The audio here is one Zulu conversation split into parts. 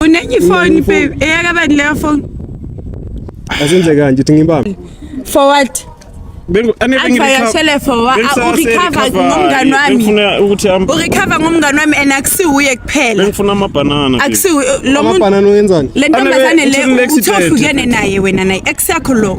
unenye ifoni babe eyakabani leyo foni asenze kanje uthi ngibambe for what urecover ngomngane wami and akusiwuye kuphelalentombazane leuthohlukene naye wena naye ex yakho lo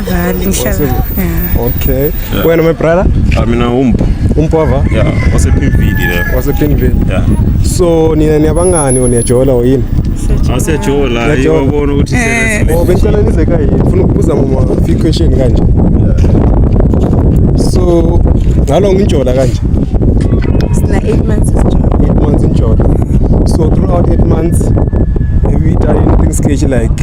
Vale, ngihlala. Yeah. Okay. Yeah. Wena my brother? Ah mina umpo. Umpova? Yeah, wasephinvidi le. Wasephinvidi. Yeah. So nina niyabangani or niyajola or yini? Asiyajola, yabona ukuthi eh. sele. Oh, bengicela nize kayi. Ngifuna ukubuza mama few question kanje. So ngalo ngijola kanje. Sina 8 months sijola. 8 months ngijola. So throughout 8 months have you done anything sketchy like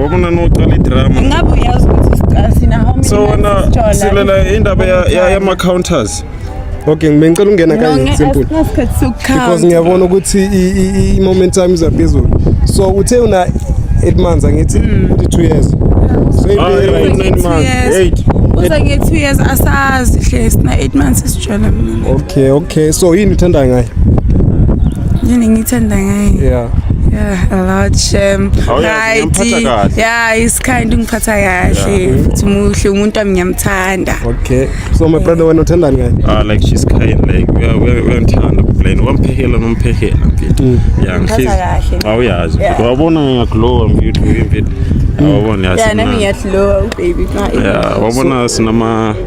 Wabona noqala idrama. Ngabe uyazi ukuthi sina how many So wena silela indaba ya yama counters. Okay, ngicela ungena kanye simple. Because ngiyabona ukuthi i momentum iza phezulu. So uthe una 8 months angithi 2 hmm. years. So ibe 9 ah, months. 8. Uza nge 2 years asazi hle sina 8 months. tshwala mina okay okay so yini uthanda ngaye yini ngithanda ngaye yeah Yeah, a lot shem. Oh, yeah, right. Yeah, he's kind ngiphatha kahle. Uthi muhle umuntu wami ngiyamthanda. Okay. So my brother wena uthandani ngaye? Ah like she's kind like we are we are ntanda plain. Wamphehela nomphehela mfethu. Mm. Yeah, ngihlizi. Awuyazi. Wabona ngiyaglowa mfethu mfethu. Awubona yazi. Yeah, nami ngiyaglowa baby. Yeah, wabona sinama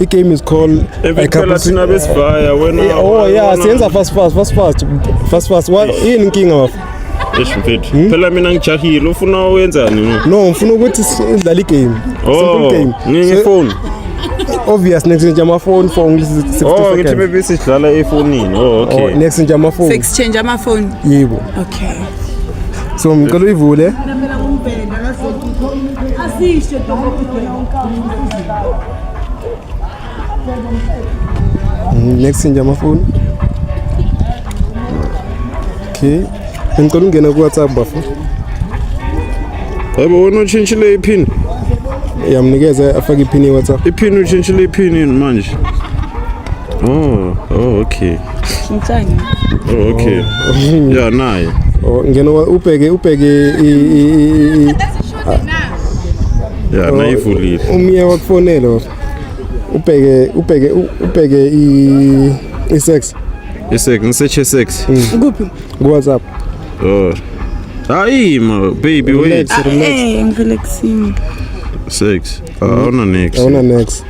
I game is called Evikela thina besivaya wena. Eh, oh yeah, siyenza fast fast fast fast fast fast. What yini inkinga bafo? Eish mfethu. Hmm? Phela mina ngijahile ufuna wenzani no? No, ngifuna ukuthi sidlale igame. Oh, Simple game. Ngifone. obvious next nje amafoni for ngithi 60 seconds. Oh, ngithi maybe sidlala efonini. Oh, okay. Oh, next nje amafoni. Exchange amafoni. Yebo. Okay. So ngicela uyivule. Asisho dokotela unkabha. Mm, next nje amafoni okay ngicela ungena ku WhatsApp bafo yebo wena utshintshile iphini yamnikeza afake iphini ye WhatsApp iphini utshintshile iphini yini manje oh oh okay shintshani oh okay oh. ya naye oh, ngena ubheke ubheke ya nayivulile umye wakufonela baba ubheke ubheke ubheke i isex isex ngiseche sex kuphi ku WhatsApp oh hayi ma baby wait Relax, relax. eh ngirelaxing sex awuna next awuna next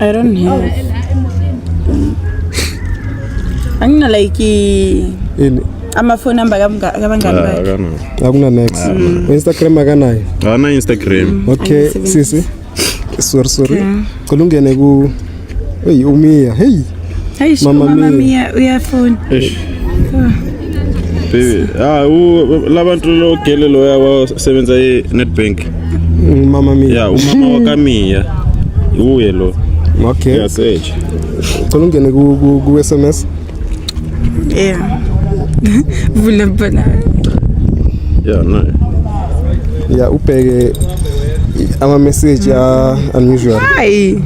I don't have. Angina like ini ama phone number kabangani ah, bakhe. Akuna next. Ah, mm. Instagram akanayo. Ana Instagram. Mm, okay, sisi. Sorry sorry. Cela ungene ku Hey umia. Hey. Hey mama mia uyafuna. Baby, ah u labantu lo gele loya wasebenza e Nedbank. Mama Mia. Yeah, umama wa Kamia. Uye lo. Okay. Yeah, Sage. Cela ungene ku ku, ku SMS. Yeah. Vula bana. Yeah, no. Yeah, ubheke ama message ya unusual. Hi.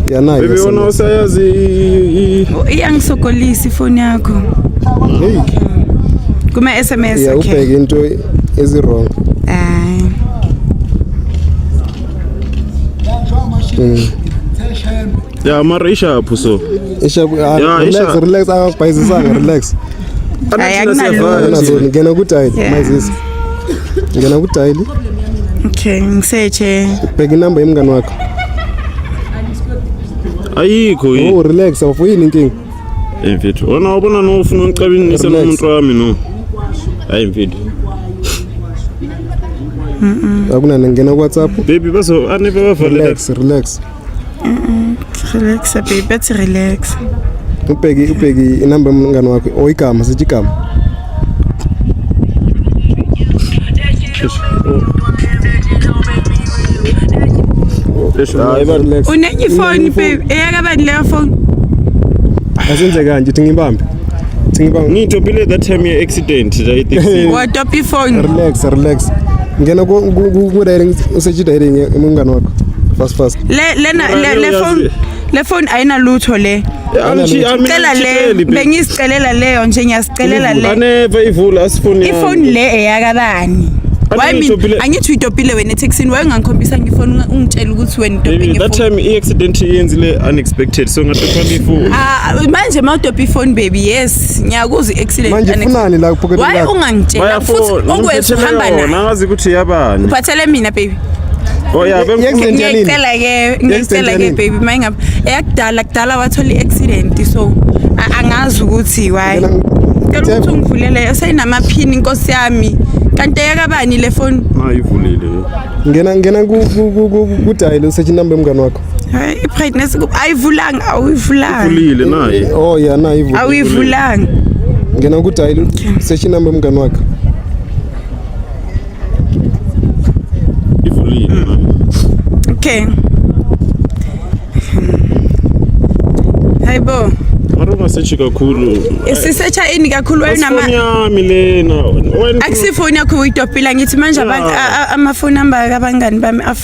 Yeah, nayo. Baby wona usayazi. Iyangisokolisa ifoni yakho. Hey. Kuma SMS yeah, okay. Yeah, ubheke into Ezi wrong. Ay. Mm. Yeah, mara isha apho so. Isha ah, yeah, relax, isha. relax akabhayizisanga ah, relax. Ay akunalutho. Ngena ku dial mazisi. Ngena ku dial. Okay, ngiseche. Bheka inamba yemngani wakho. Ayikho yini. Oh relax awufuyini inkinga. Hey mfethu, wena wabona no ufuna ungixabinise nomuntu wami no. Hayi mfethu. Mm. Akunani ngena ku WhatsApp. Baby bazo anibe bavale. Relax, relax. Mm. Relax baby, bathi relax. Ubheki ubheki inamba yomngane wakho oyigama sithi igama. unenye ifoni babe eyaka bani leyo foni asenze kanje uthi ngibambe ngitopile that time ye accident watopa ifoni relax relax ngena ku-diring usechidairing umngane wakho fast fast le phone le phone ayinalutho le cela le bengizicelela leyo nje ngiyazicelela le aneva ivula asifuni ifoni le eyakabani angithi uyitopile wena ethekisini wayengangikhombisa ngifoni ungitshela ukuthi wena that time i-accident iyenzile unexpected so ngatopha ngifoni ah, manje ma utopha ifoni baby yes ngiyakuzwa i-accident manje funani la uphoketelakho why ungangitshela futhi okwethu hamba nayo ngazi ukuthi yabani uphathele mina baby Oh yeah, ngiyayicela ke ngiyayicela ke baby mayingabe eyakudala kudala wathola i-accident so angazi ukuthi why cela ukuthi ungivulele esayinamaphini inkosi yami kanti eyakabani le foni mayivulile ngena ngena kudayile usethi inamba yomngane wakho hayi i-brightness ayivulanga awuyivulanga ivulile naye oh yeah naye ivulile awuyivulanga ngena kudayile usethi inamba yomngane wakho Okay. Hayibo. Mara ungasechi kakhulu. Sisecha ini kakhulu wena nama. Foni yami lena. Akusifoni yakho uyitopila ngithi manje abantu amafoni amba kabangani bami af.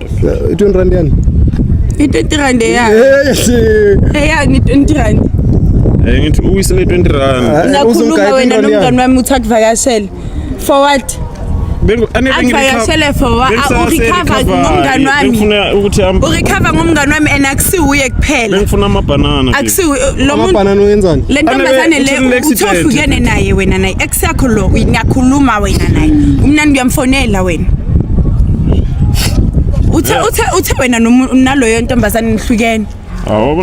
20 rand yani i-20 rand eyani eyani i-20 rand Eh ngithi uwisele 20 rand. Ah, Unakhuluma wena nomngani wami uthi akuvakashele. For what? Akuvakashele for what? Ah, urecover ngomngani wami. Ngifuna ukuthi am Urecover ngomngani wami and akusiwuye kuphela. Ngifuna ama banana. Akusiwu lo muntu. Banana uyenzani? Le ntombazane le uthofukene naye wena naye. Ex yakho lo uyakhuluma wena naye. Umnandi uyamfonela wena. uthe uthe uthe wena naloyo ntombazane nihlukene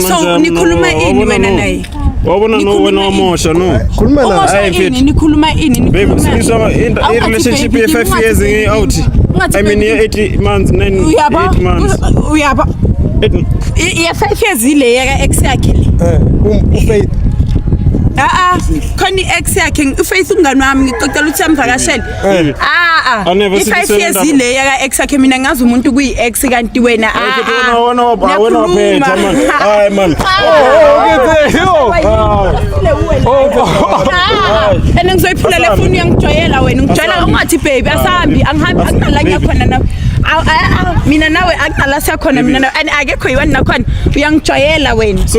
so nikhuluma ini wena naye wabona no wena wamosha no khuluma la hayi mfethu nikhuluma ini nikhuluma sisaba i relationship ye 5 years ngi out i mean ye 8 months 9 8 months uyaba ye 5 years ile yaka ex yakhe le eh um, ufaith a a khona i ex yakhe ufaith ungani wami ngicocela ukuthi amvakashele Eh. Ah ah. Aneve sithi i-five years sebenza- ile yaka ex yakhe mina ngazi umuntu kuyi ex kanti wena ah, Futhi wena ah. wena wapha- wena Uyakhuluma. waphetha manje. Hayi manje. Ah, and ngizoyiphula le foni uyangijwayela wena ngijwayela ungathi baby asambi angihambi akunala ngiyakhona nawe Aw, ah, ah, mina nawe akunala siyakhona mina nawe and akekho yiwani nakhona uyangijwayela wena So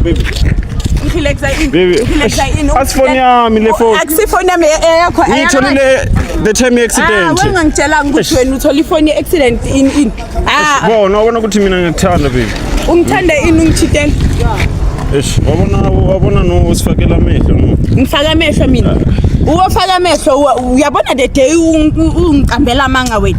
Baby. Ngilekza ini? Baby. Ngilekza ini? Asifoni yami le phone. Akusifoni yami eyakho. Ngitholile the time ah, accident. Ah, wengangitshela ukuthi wena uthola ifoni ye accident in in. Ah. Bona wabona ukuthi mina ngikuthanda baby. Ungithanda ini ungithintela? Eish, wabona wabona no usifakela amehlo no. Ngifaka amehlo mina. Ah. Uwofaka amehlo uyabona the day ungiqambela amanga wena.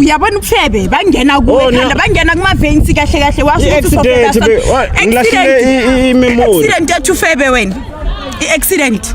uyabona ubufebe bangena kuwekhanda bangena kumavensi kahle kahle washoaccident yathi ufebe wena i-accident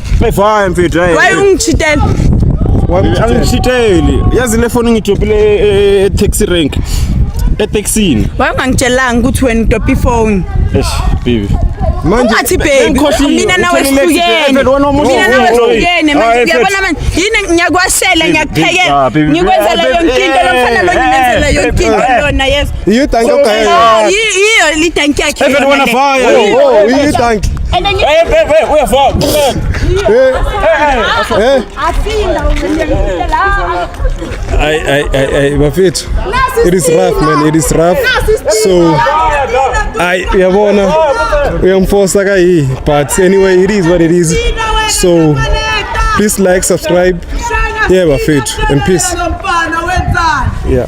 Before I'm fit. Why ungishitela? Angishiteli. Yazi le phone ngidopile e taxi rank. E taxini. Why ungangitshelanga ukuthi wena udopi phone? Eish, baby. Manje athi baby mina nawe sihlukene. Mina nawe sihlukene manje uyabona manje yini ngiyakwashela ngiyakuphekela. Ngikwenzela yonke into lomfana lo ngimenzela yonke into lona yes. Iyo tanki yo kaya. Ah, iyo iyo li tanki yake. Even when I fire. Oh, oh, iyo tanki. Hey, hey, hey, we are far. Hey. Hey. I I I I bafethu. It is rough man, it is rough. So I uyabona uyamfosa ka yi but anyway it is what it is. So please like, subscribe. Yeah bafethu and peace. Yeah.